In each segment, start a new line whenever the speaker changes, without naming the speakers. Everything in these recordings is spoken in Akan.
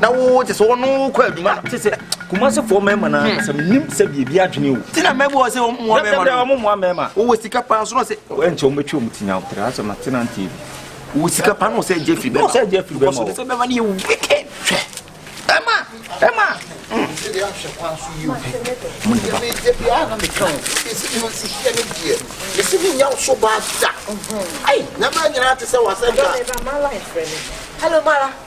na wo te sɛ ɔno kɔ adwuma no te sɛ kumase
fɔ mɛma na hmm. sɛ menim sɛ biribi adwene o ti na mɛbɔ ɔ sɛ ɔmmoa
mɛma no ɔmmoa mɛma wowɔ
sika paa nso na sɛ
ɛnkyɛ ɔmɛtwa ɔm ti
nyawo tra sɛ matena nti wowɔ sika paa
na ɔsɛ agya firi bɛma ɔsɛ agya firi bɛma ɔsɛ sɛ
bɛma no yɛ
wicked hwɛ ɛma ɛma hmm. mesi menya
wo so baa da ai na ma nyinaa te sɛ wasɛ da Hello, Mara.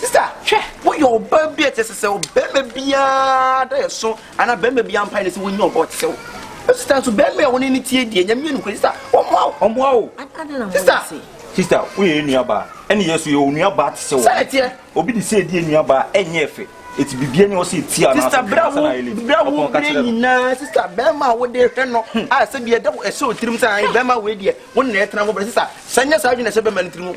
Sista, hwɛ, woyɛ ɔbaa bi a ɛte sɛ sɛ ɔbarima biara da ɛso anaa barima biara mpae ne sɛ wonnya ɔba ɔte sɛ wo. Sista nso, barima a wɔne no tie deɛ, Nyame yɛ nokorɛ. Sista, wɔmmoa wo. Wɔmmoa wo. Sista.
Sista, woyɛ yɛn nuabaa, ɛne yɛn nso yɛwɔ nuabaa te sɛ wo. Sɛ ɛteɛ. Obi de sɛ
ɛdi
nuabaa a, ɛnyɛ ɛfɛ. Eti bibia ni ɔsɛ eti a n'asɛ hwɛ ansa na ayɛ bra
wo bere nyinaa sista bɛrima a wode hwɛ no hmm. a sɛ bi ɛda ɛhyɛ otirim sɛ ayi bɛrima wei deɛ wo na ɛtena ho bere sista sɛ nyɛ saa adwene ɛhyɛ bɛrima no tirim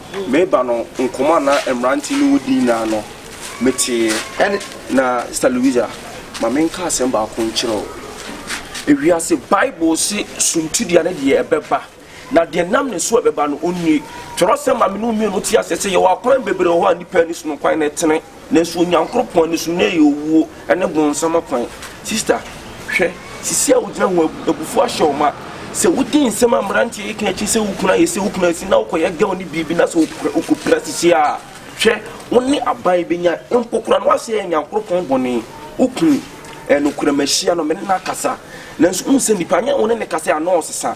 Mereba no, nkɔmmɔ a na mmerante ne wo di nyinaa no, metee. Ɛne. Na, Sista Louisa, ma menka asɛm baako nkyerɛ wo. Ewiase Bible se suntidua ne deɛ ɛbɛba, na deɛ ɛnam ne so a ɛbɛba no, ɔnnie. Twerɛsɛm ma me ne wo mmienu te aseɛ sɛ yɛwɔ akwan bebree wɔ hɔ a nnipa ani so no kwan no tene. nanso Onyankoropɔn ani so, nnɛ yɛ owuo ne bonsam akwan. Sista, hwɛ, sisi a wogyina ho abufuo ahyɛ wo ma. Sɛ wodi nsɛm a mmeranteɛ yi ka akyi sɛ wo kunu ayɛ sɛ wo kunu asi na wokɔyɛ girl no biribi na sɛ wokɔpira sisi a, hwɛ, wo ne aban bɛnya, mpo koraa na woahyɛ Onyankoropɔn bɔne. Wo kunu, ɛyɛ nokorɛ, mahyia no, me ne no akasa. Nanso wohu sɛ nnipa, nyɛ wo ne no kasa a, na ɔresesa.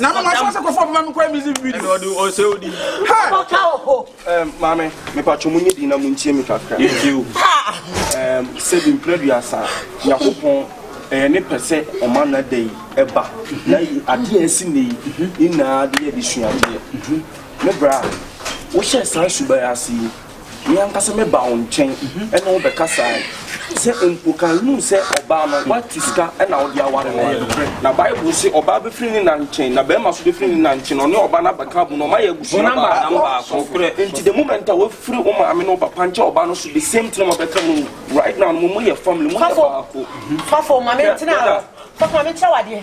na na mafa sɛ kɔfɔ bɛma mekɔyɛ music video ɔde ɔsɛ odi
ɔbɔka wɔ hɔ maame mepatwɔ mu nyɛ din na mu ntie me kakra sɛbi mprɛ duasa nyankopɔn ɛyɛ ne pɛ sɛ ɔma no ada yi ɛba na adeɛ asi nnɛ yi nyinaa de yɛ de suadeɛ me bra wohyɛ saa suban ase yi Me ankasa mɛba wo nkyɛn ne wo bɛkasae. Sɛ mpo ka nhu sɛ ɔbaa no, woatu sika na wode aware no. Na Bible se, Ɔbaa bɛfiri ne na nkyɛn, na barima nso bɛfiri ne na nkyɛn, na ɔne ɔbaa no abɛka abom, na wɔayɛ abusua baako. Nti the moment a woafiri wo maame ne wo papa nkyɛn ɔbaa no so, the same thing na wɔbɛka mu. Right now no, moyɛ family, moyɛ baako. Fafo,
ma mentena hɔ. Fafo, ma menkyerɛ wo adeɛ.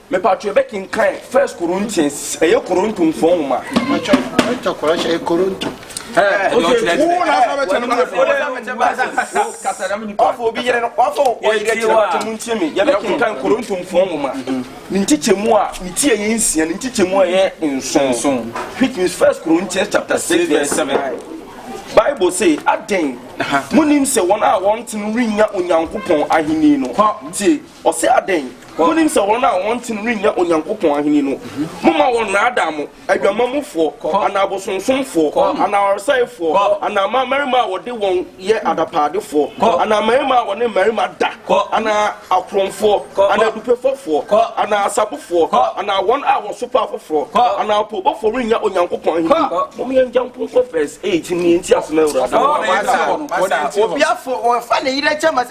Mepatwo yɛbɛ kenkan
first Corinthians ɛyɛ Koronto nfɔ nwoma. Mepatwo ɛtɔ
kɔrɔ hyɛ ɛyɛ Koronto. Ɛɛ ɛdi ɔkyerɛ ti.
Wo na asɔ bɛ kyɛn mu na fɔ. Kasa dɛm
nipa. Wafɔ obi yɛrɛ no wafɔ ɔyɛ yɛ kyerɛ wata mu ntie mi yɛbɛ kenkan Koronto nfɔ nwoma. Ne nkyekyɛ mu a ne ti ɛyɛ nsia ne nkyekyɛ mu ɛyɛ nson. Which means first Corinthians chapter six verse seven. Bible say aden mo nim sɛ wɔn a wɔn ten rinya Onyankopɔn ahenni no. Tie ɔsɛ aden. Monim sɛ wɔn a wɔnte no rennya Onyankopɔn ahenni no. Momma wɔnnaadaa mo, adwamammɔfoɔ, anaa abosonsomfoɔ, anaa ɔresɛefoɔ, anaa mmaa mmarima a wɔde wɔn yɛ adapaadefoɔ, anaa mmarima a wɔne mmarima da, anaa akorɔmfoɔ, anaa adupefɔfoɔ, anaa asabofoɔ, anaa wɔn a wɔsopa afoforɔ, anaa apoobɔfoɔ rennya Onyankopɔn ahenni. Mom yɛngya nko nkɔ verse eight nie nti asem a awurade. Wɔn a wɔn ase wɔ. Wɔn a wɔn ase wɔ. Obiafo
wɔnfa ne yere nkyɛ ma.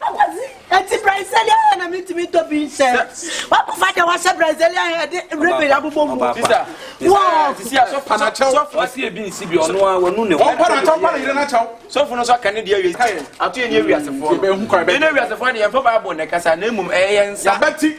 Akwasi, eti
Brazilian hair na mi tumi tɔ bi nsɛ. Wakɔfa deɛ wahyɛ Brazilian hair de ribbon abobɔ mu. Sisa, sisa,
sisi a
sɔfo na
kyɛw. Sɔfo ɔsi ebi nsi
bi ɔno a wɔnu ne ho. Ɔmpa na kyɛw, ɔmpa na yere na
kyɛw. Sɔfo no nso aka ne deɛ
wie. Ato yɛ ne ewiasefoɔ no. Yɛn ewiasefoɔ
deɛ yɛn fɔ
Bible na ɛkasa na emom ɛyɛ yɛn nsa. Yabɛti.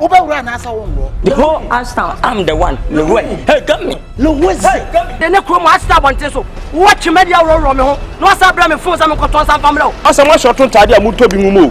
wobɛwura anaasɛ wonworɔ the whole ashtown am the one ne wura hey gami ne wose de ne kurom asesa abɔnten so wowɔ twemadi aworɔworɔ me ho na wasa brɛ me fon sɛ menkɔtɔn sa mfa mmerɛ o asɛ moahyɛ ɔto ntaade
a motɔ bi mu mu o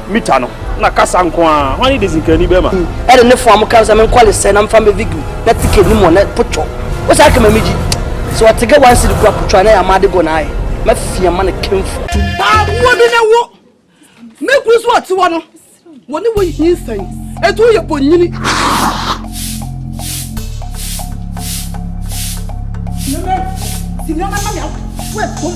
Mita no na kasa nko a hwan ne de sikani bɛma. Ɛde ne fo a mo ka
sɛ menkɔ lesɛ na mfa mbɛ vigil na tike nim wɔ nɛ potwɔ wo saa kama mi gyi sɛ ɔte gɛ one city kura potwɔ a na yɛ ama ade gɔ na ayɛ ma fia ma ne kenfo. Paa wo bi
na wo me kuru so ɔte wɔ no wɔ ne wɔ yi hin sɛn etu yɛ bɔ nyini. Nana, si nana ma mi awo wɛ bom.